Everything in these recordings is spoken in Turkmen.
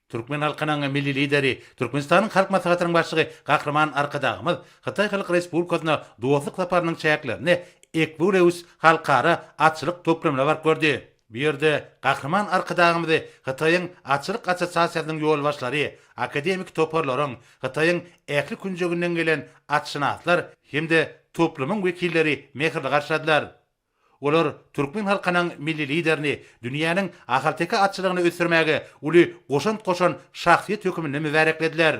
Türkmen halkynyň Milli Lideri, Türkmenistanyň Halk Maslahatynyň Başlygy Gahryman Arkadagymyz Hytaý Halk Respublikasyna dostluk saparynyň çäklerinde Equreus halkara atçylyk toplumyna baryp gördi. Bu ýerde Gahryman Arkadagymyzy Hytaýyň Atçylyk assosiasiýasynyň ýolbaşçylary, akademiki toparlaryň, Hytaýyň ähli künjeginden gelen atşynaslar hem-de toplumyň wekilleri mähirli garşyladylar. Olar türkmen halkynyň Milli Liderini dünýäniň ahalteke atçylygyny ösdürmäge uly goşant goşan şahsyýet höküminde mübäreklediler.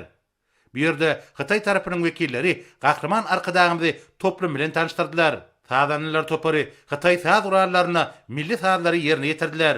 Bu ýerde hytaý tarapynyň wekilleri Gahryman Arkadagymyzy toplum bilen tanyşdyrdylar. Sazandalar topary hytaý saz gurallaryna milli sazlary ýerine ýetirdiler.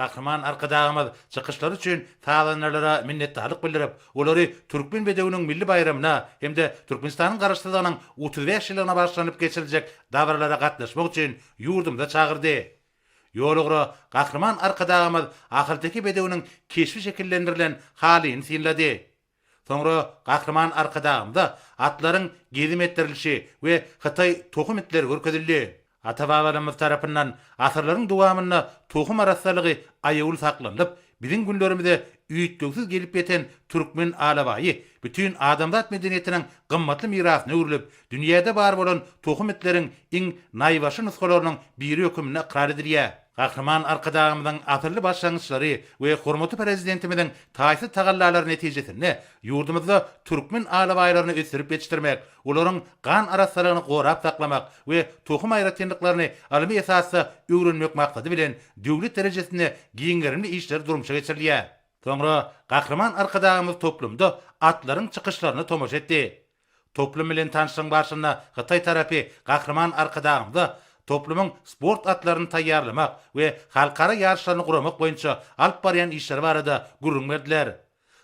Gahryman Arkadagymyz çykyşlary üçin sazandarlara minnetdarlyk bildirip, olary Türkmen bedewiniň milli baýramyna hem-de Türkmenistanyň Garaşsyzlygynyň otuz bäş ýyllygyna bagyşlanyp geçiriljek dabaralara gatnaşmak üçin ýurdumyza çagyrdy. Ýolugra Gahryman Arkadagymyz ahalteke bedewiniň keşbi şekillendirilen halyny synlady. Soňra Gahryman Arkadagymyza atlaryň gezim etdirilişi we hytaý tohum itleri görkezildi. Ata-babalarymyz tarapyndan asyrlaryň dowamynda tohum arassalygy aýawly saklanylyp, biziň günlerimize üýtgewsiz gelip ýeten türkmen alabaýy bütin adamzat medeniýetiniň gymmatly mirasyna öwrülip, dünýäde bar bolan tohum itleriň iň naýbaşy nusgalarynyň biri höküminde ykrar edilýär. Gahryman Arkadagymyzyň asylly başlangyçlary we hormatly Prezidentimiziň taýsyz tagallalary netijesinde ýurdumyzda türkmen alabaýlaryny ösdürip ýetişdirmek, olaryň gan arassalygyny gorap saklamak we tohum aýratynlyklaryny ylmy esasda öwrenmek maksady bilen döwlet derejesinde giň gerimli işler durmuşa geçirilýär. Soňra Gahryman Arkadagymyz toplumda atlaryň çykyşlaryna tomaşa etdi. Toplum bilen tanşlygyň barşynda hytaý tarapy Gahryman Arkadagymyza toplumyň sport atlaryny taýýarlamak we halkara ýaryşlaryny guramak boýunça alyp barýan işleri barada gürrüň berdiler.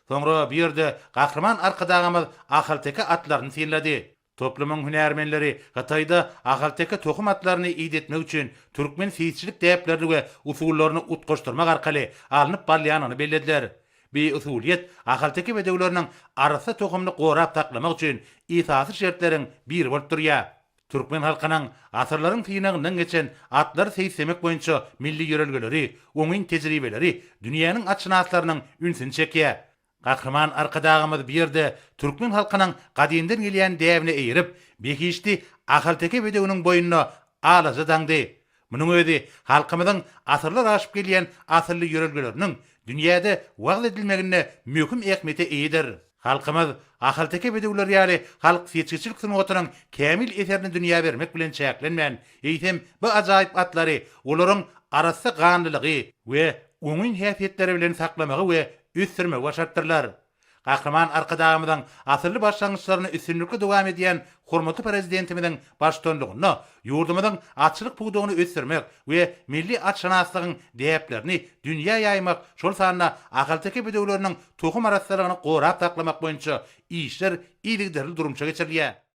Soňra bu ýerde Gahryman Arkadagymyz ahalteke atlaryny synlady. Toplumyň hünärmenleri Hytaýda ahalteke tohum atlaryny idetmek üçin türkmen seýisçilik däplerini we usullaryny utgaşdyrmak arkaly alnyp barylýanyny bellediler. Bi usulyýet ahalteke bedewleriniň arassa tohumyny gorap saklamak üçin esasy şertleriň biri bolup durýar. Türkmen halkynyň asyrlaryň synagyndan geçen atlary seýislemek boýunça milli ýörelgeleri, oňyn tejribeleri dünýäniň atşynaslarynyň ünsüni çekýär. Gahryman Arkadagymyz bu ýerde türkmen halkynyň gadymdan gelýän däbine eýerip, behişdi ahalteke bedewiniň boýnuna alaja daňdy. Munuň özi halkymyzyň asyrlar aşyp gelýän asylly ýörelgeleriniň dünýäde wagyz edilmeginde möhüm ähmiýete eýedir. Halkymyz ahalteke bedewleri ýaly halk seçgiçilik sungatynyň kämil eserini dünýä bermek bilen çäklenmän, eýsem, bu ajaýyp atlary olaryň arassa ganlylygy we oňyn häsiýetleri bilen saklamagy we ösdürmegi başarypdyrlar. Gahryman Arkadagymyzyň asylly başlangyçlaryny üstünlikli dowam edýän hormatly Prezidentimiziň baştutanlygynda ýurdumyzyň atçylyk pudagyny ösdürmek we milli atşynaslygyň däplerini dünýä ýaýmak, şol sanda ahalteke bedewleriniň tohum arassalygyny gorap saklamak boýunça işler yzygiderli durmuşa geçirilýär.